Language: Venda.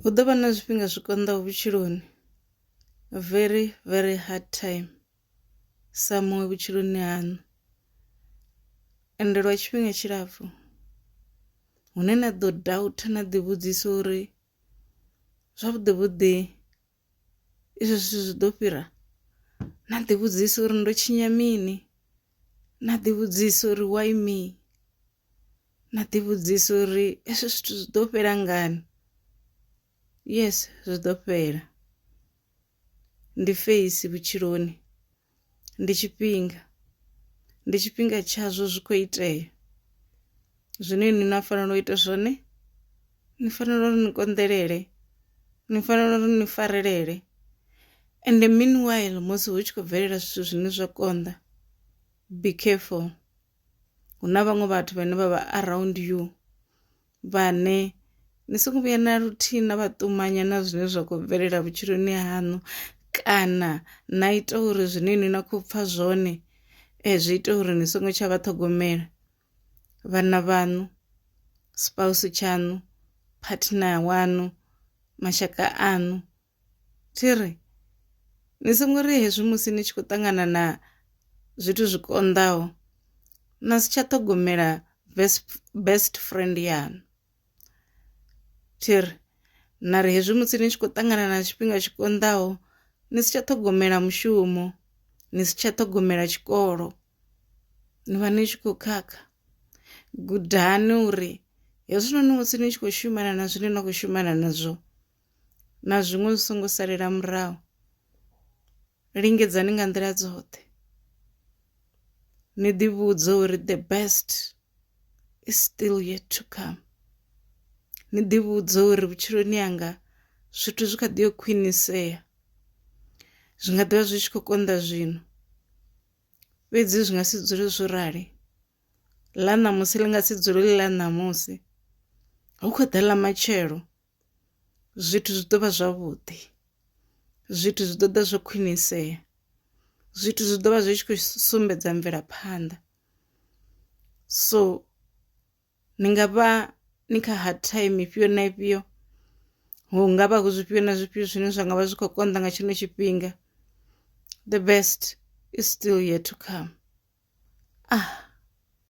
Hu ḓo vha na zwifhinga zwi konḓaho vhutshiloni, very very hard time sa muṅwe vhutshiloni haṋu. Ende lwa tshifhinga tshilapfhu hune na ḓo doubt na ḓi vhudzisa uri zwavhuḓi vhuḓi izwo zwithu zwi ḓo fhira, na ḓi vhudzisa uri ndo tshinya mini, na ḓi vhudzisa uri why me. na ḓivhudzisa uri hezwi zwithu zwi ḓo fhela ngani yes zwi ḓo fhela ndi feisi vhutshiloni ndi tshifhinga ndi tshifhinga tshazwo zwi khou itea zwine ni na fanela u ita zwone ni fanela uri ni konḓelele ni fanela uri ni farelele ende meanwhile musi hu tshi khou bvelela zwithu zwine zwa konḓa be careful hu na vhaṅwe vhathu vhane vha vha around you vhane ni songo vhuya na luthihi na vha ṱumanya na zwine zwa khou bvelela vhutshiloni haṋu kana na ita uri zwine ni na khou pfha zwone eh, zwi ita uri ni songo tsha vha ṱhogomela vhana vhaṋu spouse tshaṋu partner waṋu mashaka aṋu Thi ri, Ni songo ri hezwi musi ni tshi khou ṱangana na zwithu zwi konḓaho na si tsha ṱhogomela best best friend yaṋu. Thi ri, Na ri hezwi musi ni tshi khou ṱangana na tshifhinga tshi konḓaho ni si tsha ṱhogomela mushumo, ni si tsha ṱhogomela tshikolo, ni vha ni tshi khou khakha. Gudani uri hezwinoni musi ni tshi khou shumana na zwine na khou shumana nazwo, na zwiṅwe zwi songo salela murahu lingedzani nga nḓila dzoṱhe ni ḓi vhudze uri the best is still yet to come ni ḓi vhudze uri vhutshiloni yanga zwithu zwi kha ḓi yo khwinisea zwi nga ḓivha zwi tshi khou konḓa zwino fhedzi zwi nga si dzule zwo rali ḽa ṋamusi ḽi nga si dzule ḽi ḽa ṋamusi hu khou ḓa ḽa matshelo zwithu zwi ḓo vha zwavhuḓi zwithu zwi ḓoḓa zwo khwinisea zwithu zwi ḓovha zwi tshi khou sumbedza mvelaphanḓa so ni nga vha ni kha hard time ifhio na ifhio hu ngavha hu zwifhio na zwifhio zwine zwa ngavha zwi kho konḓa nga tshino tshifhinga the best is still yet to come ah.